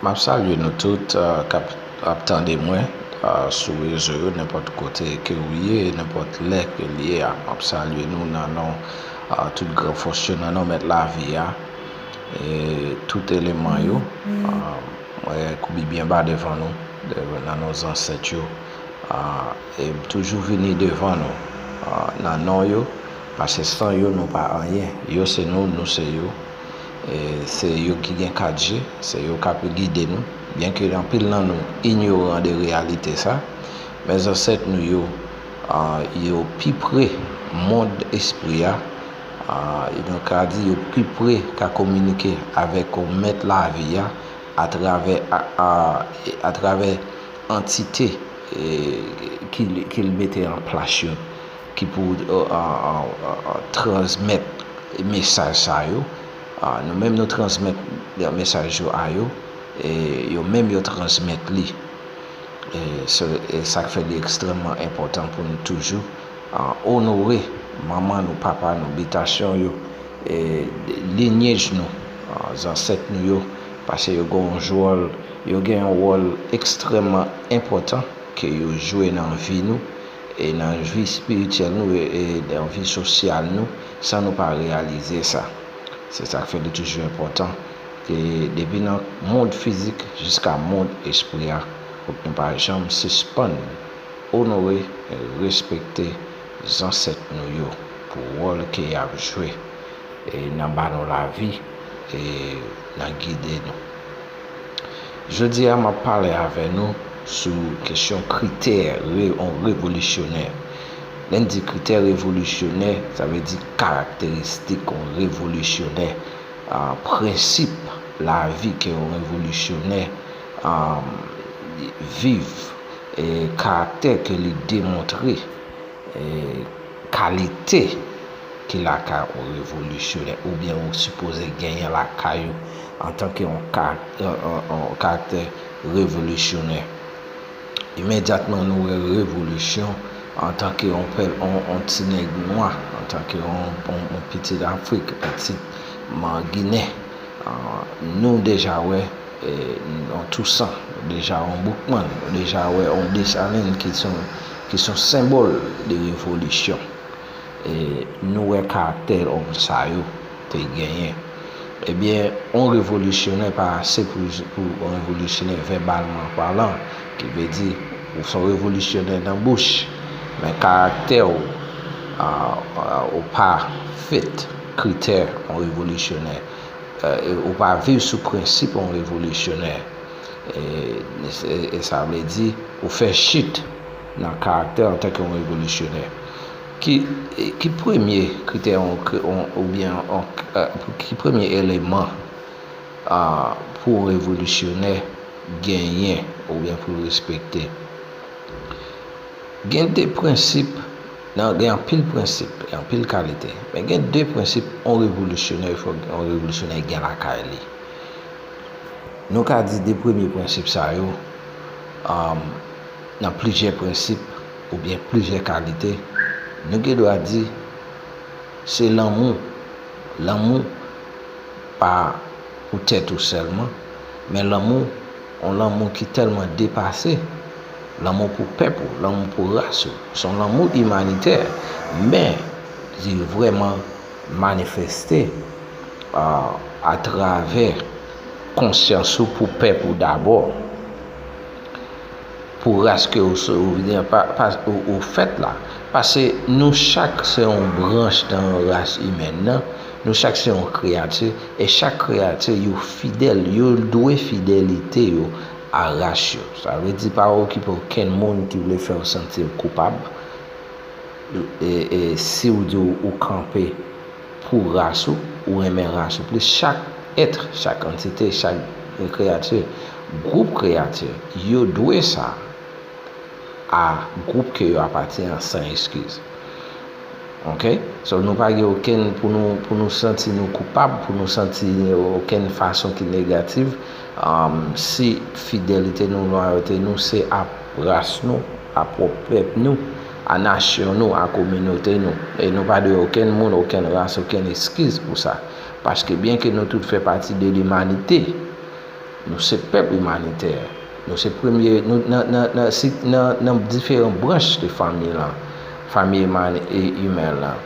Map salye nou tout kap ap tande mwen sou rezo yo nenpòt kote ke ou ye e nenpòt lè ke li ye a. Map salye nou nan non tout gran fòs yo, nan non Mèt Lavi a e tout eleman yo. Mwen koubi byen ba devan nou, nan non zansèt yo e m toujou vini devan nou nan non yo paske san yo nou pa anyen. Yo se nou, nou se yo. Se yo ki gen kat je, se yo k ape gide nou. Byenke anpil nan nou inyoran de reyalite sa, men zansèt nou yo, yo pi pre mond espri a, e nou ka di yo pi pre ka kominike avèk Mèt lavi a atravè antite ki l mete an plas yo. ki pou transmèt mesaj sa yo, nou menm nou transmèt mesaj yo a yo, e yo menm yo transmèt li. E sa k fè li ekstrèmman enpòtan pou nou toujou onore manman nou, papa nou, bitasyon yo, linyej nou, zansèt nou yo, pase yo gen yon jwòl, yo gen yon wòl ekstrèmman enpòtan ke yo jwe nan vi nou, E nan vi spirityèl nou e nan vi sosyal nou san nou pa reyalize sa. Se sa k fè li toujou enpòtan ke depi nan mond fizik jiska mond espri a pou nou pa janm sispann onore e respekte zansèt nou yo pou wòl ke y ap jwe e nan ba nou lavi e nan gide nou. Jodi a m ap pale avè nou sou kesyon kritè yon revolisyonè. Lè n di kritè revolisyonè, sa vle di karakteristik yon revolisyonè, prensip lavi ke yon revolisyonè viv, karaktè ke li demontre. Kalite ki lakay yon revolisyonè oubyen ou sipoze genyen lakay ou antanke yon karaktè revolisyonè. Imedyatman nou wè revolisyon antanke yon pèp, yon ti nèg nwa, antanke yon pitit Afrik, pitit Ginen, nou deja wè. On Tousan, deja on Boukman, ou deja wè on Desalin ki son senbòl de revolisyon. E nou wè karaktè on sa yo te genyen. Ebyen, on revolisyonè pa ase pou on revolisyonè vèbalman palan, ki vle di ou son revolisyonè nan bouch, men karaktè ou, ou pa fit kritè on revolisyonè. Ou pa viv sou prensip yon revolisyonè. E sa vle di, ou fè chit nan karaktè an tanke yon revolisyonè. Ki premye kritè ou byen, ki premye eleman pou yon revolisyonè genyen ou byen pou respekte? Gen de prensip. Nan gen anpil prensip e anpil kalite. Men gen de prensip on revolisyonè il fòk on revolisyonè gen lakay li. Nou ka di de premye prensip sa yo nan plizyè prensip ou byen plizyè kalite nou gen dwa di se lanmou. Lanmou pa pou tèt ou sèlman men lanmou On lanmou ki tèlman depase, lanmou pou pèp ou, lanmou pou ras ou. S on lanmou imanitè, men li vrèman manifeste atravè konsyans ou pou pèp ou dabò, pou ras ke ou se ou vini ou fèt la. Pase nou chak se yon branch nan ras imèn nan, nou chak se yon kreyati. E chak kreyati yo fidèl, yo dwe fidelite yo a ras yo. Sa vle di pa okipe okenn moun ki vle fè w santi w koupab si w di ou kanpe pou ras ou, ou renmen ras ou plis. Chak èt, chak antite, chak kreyati, gwoup kreyati, yo dwe sa. a gwoup ke yo apatyen an san eskiz. Ok? So nou pa gen okenn pou nou pou nou santi nou koupab, pou nou santi okenn fason ki negativ si fidelite nou, lwayote nou se a ras nou, a pwòp pèp nou, a nasyon nou, a kominote nou. E nou pa dwe okenn moun, okenn ras, okenn eskiz pou sa. Paske byen ke nou tout fè pati de limanite. Nou se pèp imanitè. Nou se premye, nan diferan branch de fanmi lan, fanmi imen lan.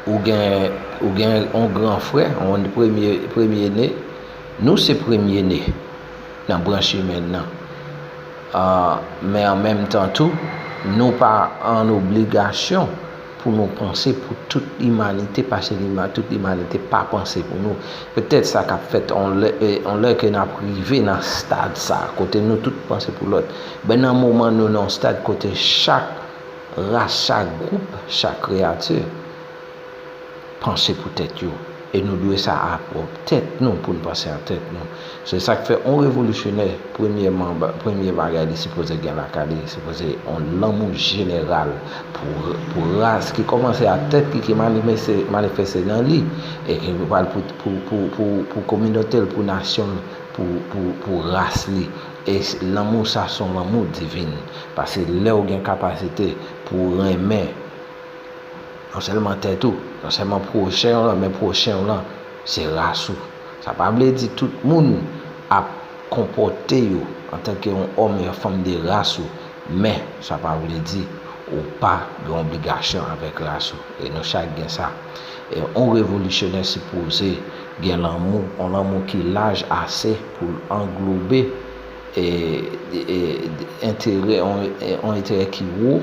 Ou gen yon gran frè, yon premye ne. Nou se premye ne nan branch imen lan. Men an menm tan tou, nou pa an obligasyon. Pou nou panse pou tout limanite pase tout limanite pa panse pou nou. Petèt sa kap fèt yon lè ke nap rive nan stad sa kote nou tout panse pou lòt. Ben nan moman nou nan yon stad kote chak ras, chak gwoup, chak kreyati. Panse pou tèt yo. E nou dwe sa a pwòp tèt nou pou n panse a tèt nou. Se sa k fè on revolisyonè, premyèman, premye bagay li sipoze gen lakay li, sipoze on lanmou jeneral pou pou ras ki kòmanse a tèt li ki manifeste manifeste nan li e ki pral pou pou pou pou pou kominote l, pou nasyon l, pou pou pou ras li. E lanmou sa s on lanmou divin. Pase lè ou gen kapasite pou renmen. Non sèlman tèt ou, non sèlman pwochen w lan, men pwochen w lan se ras ou. Sa pa vle di tout moun ap konpòte yo antanke yon òm e yon fanm de ras ou, men sa pa vle di ou pa gen obligasyon avèk ras ou. E nou chak gen sa. E yon revolisyonè sipoze gen lanmou, yon lanmou ki laj ase pou l anglobe enterè, yon enterè ki wo.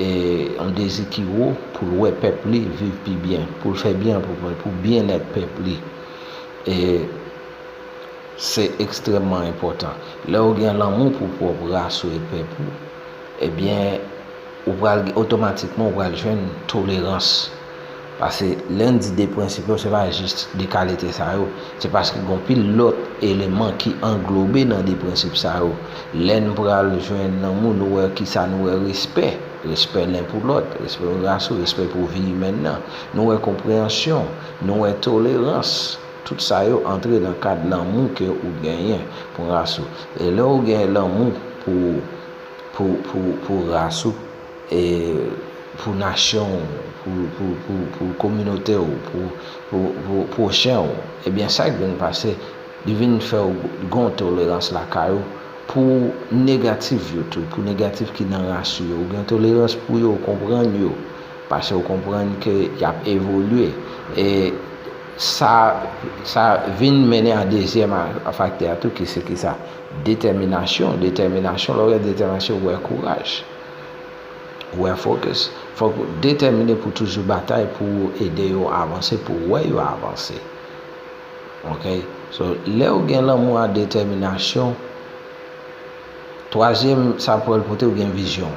E yon dezi ki wo pou l wè pèp li viv pi byen, pou l fè byen pou byennèt pèp li. E se ekstrèmman enpòtan. Lè ou gen lanmou pou pwòp ras ou e pèp ou, ebyen ou pral otomatikman ou pral jwenn tolerans. Pase lè n di de prensip yo se pa jis de kalite sa yo. Se paske gen anpil lòt eleman ki anglobe nan de prensip sa yo. Lè n pral jwenn nan mo nou wè ki sa nou wè respè. Respè len pou lòt. Respè pou ras ou. Respè pou vi imèn nan. Nou wè konpreyansyon. Nou wè tolerans. Tout sa yo antre nan kad lanmou ke ou genyen pou ras ou. E lè ou gen lanmou pou pou pou pou ras ou. E pou nasyon ou, pou kominote ou, pou pwochen ou. Ebyen sa k vin pase, li vin fè ou gon tolerans lakay ou pou negatif yo tou, pou negatif ki nan ras ou yo. Ou gen tolerans pou yo, ou konprann yo. Pase ou konprann ke y ap evolye. E sa sa vin mennen a dezyèm faktè a tou ki se ki sa? Detèminasyon. Detèminasyon, lè ou gen detèminasyon ou gen kouraj. Ou wè focus. Fòk ou detèmine pou toujou batay pou ou ede yo avanse pou wè yo avanse. Ok so lè ou gen lanmou a detèminasyon twazyèm sa pwèl pote ou gen vizyon.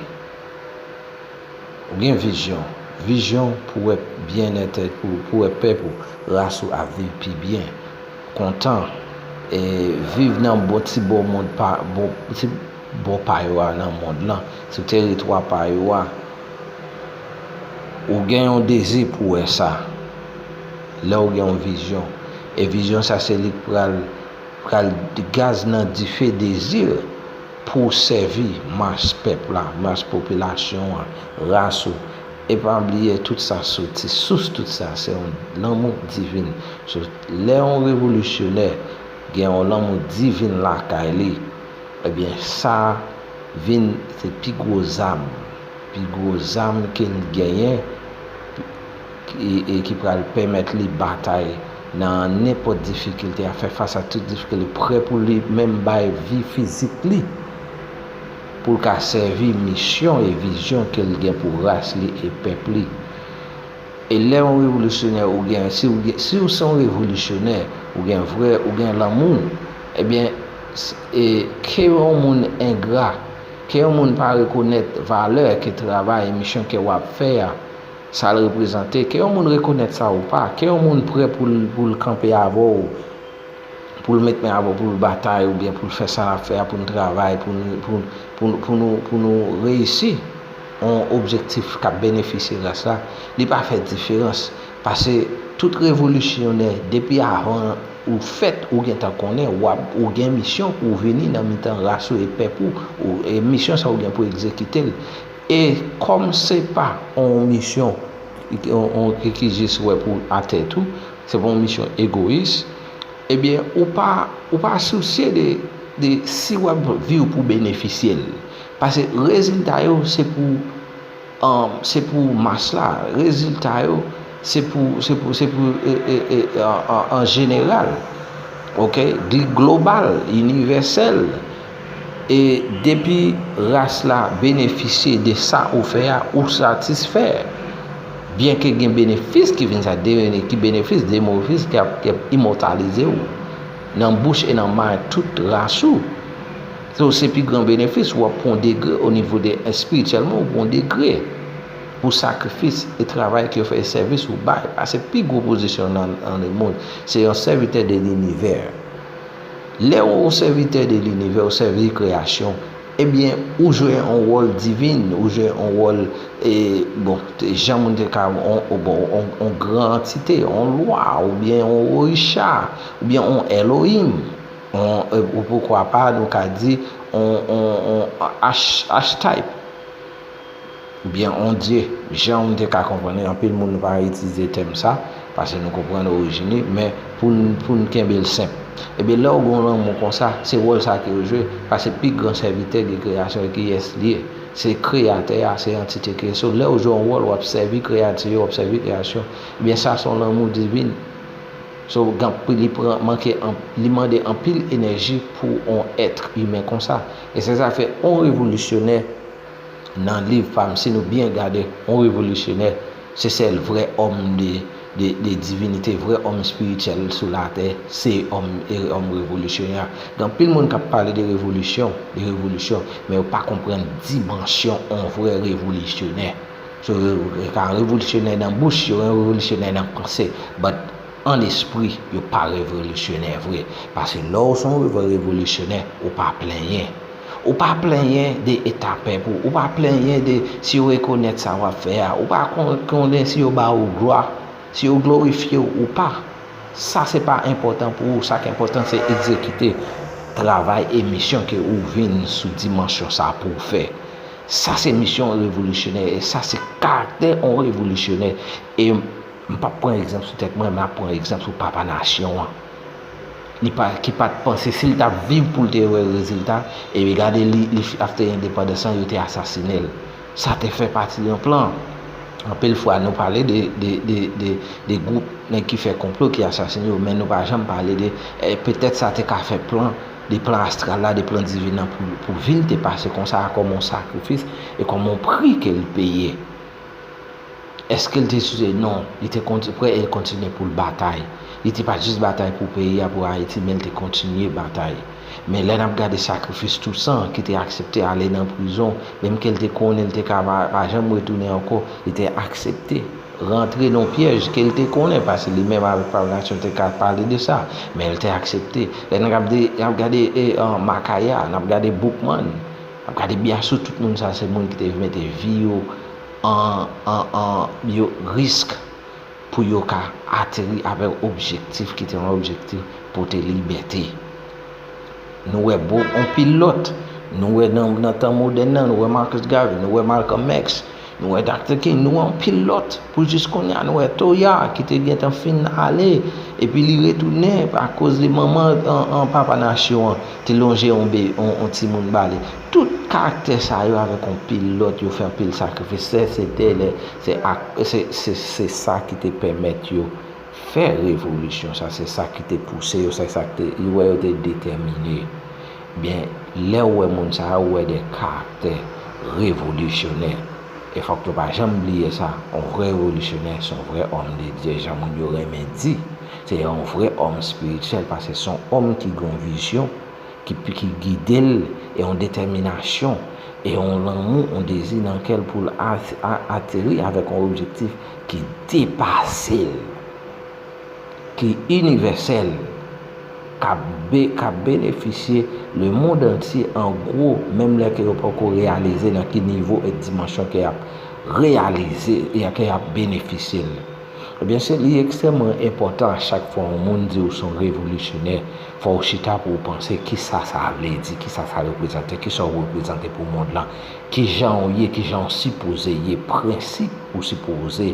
Ou gen vizyon. Vizyon pou wè byennète pou pou wè pèp ou ras ou ap viv pi byen. Kontan e viv nan bon ti bon mond pa bon ti. bò pa yo a nan mond lan, sou teritwa pa yo a, ou gen yon dezi pou wè sa, lè ou gen yon vizyon, e vizyon sa se li k pral pral gaz nan dife dezi w pou w sèvi mas pèp la, mas popilasyon an, ras ou, e pa bliye tout sa soti, sous tout sa se yon lanmou divin, sou lè yon revolisyonè gen yon lanmou divin lakay li. Ebyen sa vin se pi gwo zam, pi gwo zam ke li genyen e ki pral pèmèt li batay nan nenpòt difikilte a, fè fas a tout difikilte, li prè pou li menm bay vi fizik li pou l ka sèvi misyon e vizyon ke l gen pou ras li e pèp li. E lè yon revolisyonè ou gen, si ou gen, si ou se yon revolisyonè, ou gen vrè, ou gen lanmou, ebyen, e, ke yon moun engra, ke yon moun pa rekonèt valè ke travay e misyon ke wa p fè a, sa l reprezante, ke yon moun rekonèt sa ou pa, ke yon moun prè pou l, pou l kanpe avè w, pou l met men avè w pou l batay oubyen pou l fè sa l ap fè a pou n travay, pou n, pou, pou nou, pou nou reyisi. yon objektif k ap benefisye ras la, li pa fè diferans, pase tout revolisyonè depi avan ou fèt ou gentan konnen w ap ou gen misyon pou w vini nan mitan ras ou e pèp ou, e misyon sa ou gen pou egzekite l, e kòm se pa yon misyon ki jis wè pou a tèt ou, se pa yon misyon egoyis, ebyen ou pa sousye de si w ap viv pou benefisye l. Pase rezilta yo se pou se pou mas la, rezilta yo se pou se pou se pou an jeneral ok global inivèsèl e depi ras la benefisye de sa ou fè a ou satisfè byenke gen benefis ki vin sa deweni ki benefis demofis ki ap imòtalize ou nan bouch e nan may tout ras ou. So se pi gran benefis ou ap pran degre o nivo de espirityèlman ou pran degre pou sakrifis e travay ke ou fè e sèvis ou bay a se pi gwo pozisyon nan nan le mond se yon sèvitè de linivè lè ou yon sèvitè de linivè ou sèvi kreyasyon ebyen ou jwe yon wòl divin ou jwe yon wòl e bon jan moun te ka ou bon yon gran antite yon lwa oubyen yon orisha oubyen yon Elohim. Ou poukwa pa, nou ka di, on achetype. Oubyen on dye. Jan ou te ka konprann li, anpil moun pa itilize tèm sa, pase nou konprann orijin li, men pou n kenbe l senp. Ebyen lè ou gen yon lanmou konsa, se wòl sa ke yo jwe, pase pi gran sèvitè de kreyasyon e kiyès li ye? Se kreyatè a, se antite ki. So lè ou jwe yon wòl, w ap sèvi kreyati yo, w ap sèvi kreyasyon. Ebyen sa se yon lanmou divin. So gan pri li pran manke li mande anpil enèji pou on ètr imen konsa. E se sa fè on revolisyonè nan liv pa m si nou byen gade on revolisyonè se sèl vrè òm de divinite vrè òm espirityèl sou latè se òm e òm revolisyonè. Gen anpil moun k ap pale de revolisyon de revolisyon men yo pa konprann dimansyon on vrè revolisyonè. So yo ka revolisyonè nan bouch yo, revolisyonè nan panse, but an lespri yo pa revolisyonè vre. Pase lè w se yon vrè revolisyonè, ou pa plenyen. Ou pa plenyen de eta pèp ou, ou pa plenyen de si yo rekonèt sa w ap fè a, ou pa konnen si yo ba ou glwa, si yo glorifye w ou pa. Sa se pa enpòtan pou ou, sa k enpòtan se egzekite travay e misyon ke ou vin sou dimansyon sa pou w fè. Sa se misyon yon revolisyonè e sa se karaktè yon revolisyonè. E m pap pran egzanp sou tèt mwen, m ap pran egzanp sou papa nasyon an. Li pa, ki pa t panse, si l t ap viv pou l te wè rezilta, e pi gade li, li fi, afte endepandans lan, yo te asasine l. Sa te fè pati yon plan. Anpil fwa nou pale de, de, de, de, de gwoup nèg ki fè konplo, ki asasine yo, men nou pa janm pale de, e petèt sa te ka fè plan. De plan astral la, de plan divin nan pou vi l te pase konsa a kòm yon sakrifis e kòm yon pri ke l peye. Eske l te size? Non. Li te pre e l kontinye pou l batay. Li te pa jis batay pou peyi a, pou Ayiti, men l te kontinye batay. Men lè n ap gade sakrifis Tousan ki te aksepte ale nan prizon, menm ke l te konnen l te ka pa janm retounen ankò, li te aksepte. rantre nan yon pyèj ke l te konnen, paske li menm avèk Pam Nasyon te ka pale de sa, men l te aksepte. Lè n ap gade Makaya, n ap gade Boukman, n ap gade Biassou, tout moun sa se moun ki te mete vi yo an risk pou yo ka ateri avèk objektif ki te yon objektif pote libète. Nou wè anpil lòt, nou wè nan tan modèn nan, nou wè Marcus Garvey, nou wè Malcolm X. Nou wè Doctor King, nou wè anpil lòt, pou jis konnya nou wè Toya ki te gentan fin ale epi li retounen akoz li manman an papa nasyon an te lonje yon timoun ba li. Tout karaktè sa yo avèk anpil lòt yo fè anpil sakrifis sè se te lè se ak se sa ki te pèmèt yo fè revolisyon sa se sa ki te pouse yo se sa ki te yo wè yo te detèmine. Byen, lè ou wè moun sa yo, ou wè de karaktè revolisyonè. E fòk nou pa janm bliye sa, yon vrè revolisyonè se yon vrè òm de Dye, jan moun yo renmen di. Se yon vrè òm espirityèl, paske se yon òm ki gen yon vizyon ki gide l, e yon detèminasyon, e yon lanmou, yon dezi nan kè l pou l ateri avèk yon objektif ki depase l. ki inivèsèl k ap benefisye lemond antye an gwo menm lè ke yo poko reyalize nan ki nivo e dimansyon ke y ap reyalize e ke y ap benefisye l. Ebyen se li ekstrèmman enpòtan a chak fwa yon moun di ou se yon revolisyonè fò ou chita pou ou panse ki sa sa vle di, ki sa sa reprezante, ki sa ou reprezante pou mond lan, ki jan ou ye, ki jan ou sipoze ye, prensip ou sipoze.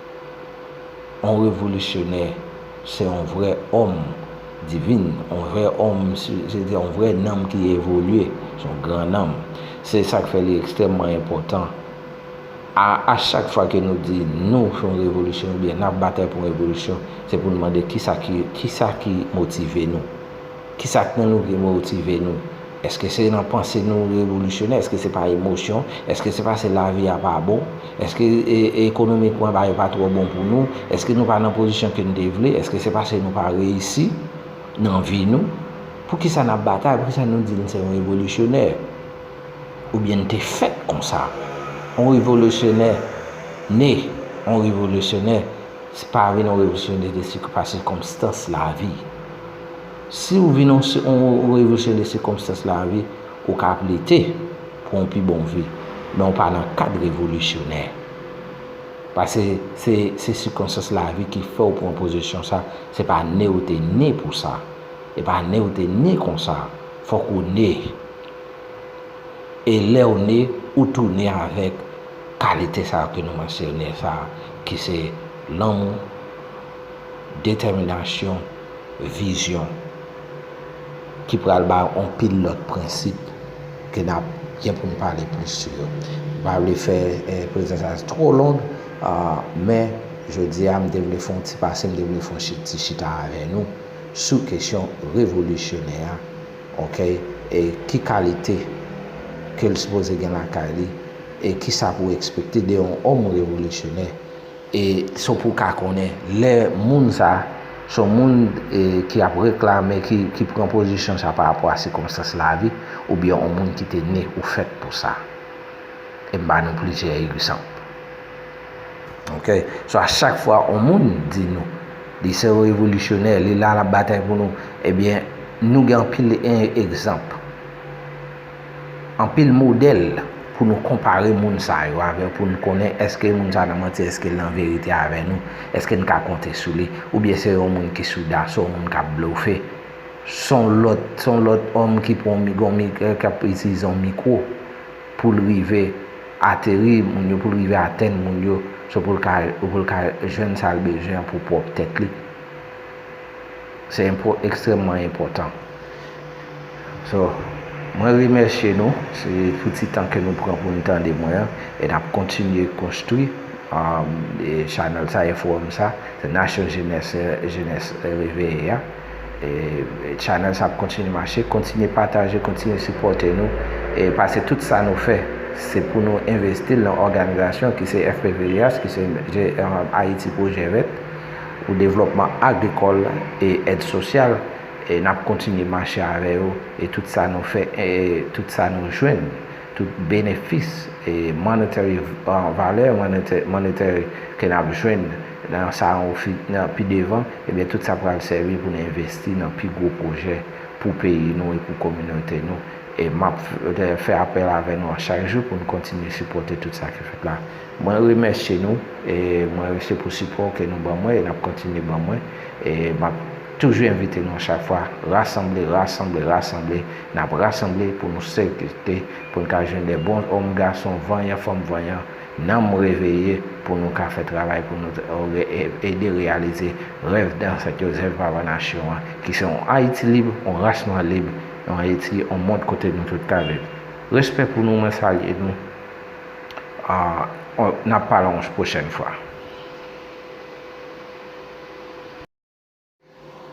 On revolisyonè se on vrè òm divin, on vrè òm, se te on vrè nanm ki evolye, se on gran nanm. Se sa k fè li ekstrèmman enpòtan a chak fwa ke nou di nou fè on revolisyon oubyen n ap batay pou on revolisyon, se pou nou mande kisa ki motive nou. Ki sa k nan nou ki motive nou? Èske se nan panse nou revolisyonè? Èske se pa emosyon? Èske se pase lavi a pa bon? Èske ekonomikman bagay yo pa twò bon pou nou? Èske nou pa nan pozisyon ke n te vle? Èske se pase nou pa reyisi nan vi nou? Poukisa n ap batay? Poukisa nou di n se yon revolisyonè? Oubyen n te fèt konsa? On revolisyonè ne, on revolisyonè pa vin on revolisyonè de pa sikonstans lavi. Si ou vin yon revolisyoner sikonstans lavi, ou ka ap lite pou yon pi bon vi, men ou pa nan kad revolisyonè. Pase se sikonstans lavi ki fè ou pran pozisyon sa, se pa ne ou te ne pou sa. E pa ne ou te ne konsa, fòk ou ne. E lè ou ne, ou tou ne avèk kalite sa yo ke nou mansyone sa, ki se lanmou, detèminasyon, vizyon ki pral bay yon pil lòt prensip ke nap gen pou nou pale plis sou yo. M pa vle fè prezans sa two long men jodi a m te vle fè yon ti pase, m te vle fè yon ti chita avè nou sou kesyon revolisyonè a ok e ki kalite ke l sipoze gen lakay li e kisa pou ekspekte de yon òm revolisyonè. E so pou w ka konnen lè moun sa, son moun ki ap reklame, ki pran pozisyon sa pa rapò a sikonstans lavi, oubyen on moun ki te ne ou fèt pou sa. E m ba nou plizyè egzanp. Ok. So a chak fwa on moun di nou, li se on revolisyonè, li la lap batay pou nou, ebyen nou gen anpil egzanp. Anpil modèl pou nou konpare moun sa yo avè pou n konnen èske moun sa nan manti èske l nan verite avè nou èske n ka konte sou li oubyen se yon moun ki sou da se yon moun k ap blofe se yon lòt se yon lòt òm ki pran yon mikro k ap itilize yon mikro pou l rive ateri moun yo pou l rive atenn moun yo se pou l ka pou l ka jwenn sa l bezwen pou pwòp tèt li. Se enpo ekstrèmman enpòtan. So, mwen remèsye nou pou ti tan ke nou pran pou nou tande mwen an. E n ap kontinye konstwi chanèl sa e fowòm sa. Se nasyon jenès, jenès reveye a. E chanèl sa ap kontinye mache. Kontinye pataje, kontinye sipòte nou. E pase tout sa nou fè, se pou nou envesti l nan òganizasyon ki se FPVJH, ki se Ayiti Pwojè Vèt. pou devlòpman agrikòl e èd sosyal e nap kontinye mache avè yo e tout sa nou fè e tout sa nou jwenn tout benefis e monetary valè monetary ke nap jwenn nan sa an ofi nan pi devan ebyen tout sa pral sèvi pou n envesti nan pi gwo pwojè pou peyi nou e pou kominote nou e map fè apèl avè nou a chak jou pou n kontinye sipòte tout sa ki fèt la. Mwen remèsye nou e mwen rese pou sipò ke nou ban mwen e nap kontinye ban mwen e map toujou envite nou chak fwa rasanble rasanble rasanble nap rasanble pou nou sekte pou n ka jwenn de bon òm gason vanyan fanm vanyan nanm reveye pou nou ka fè travay pou nou ede reyalize rèv dansèt yo zèv papa nasyon an ki se yon ayiti lib yon ras nwa lib yon ayiti yon mond kote nou tout ka viv respè pou nou mwen salye nou. Ahh nap pale yon pwochèn fwa.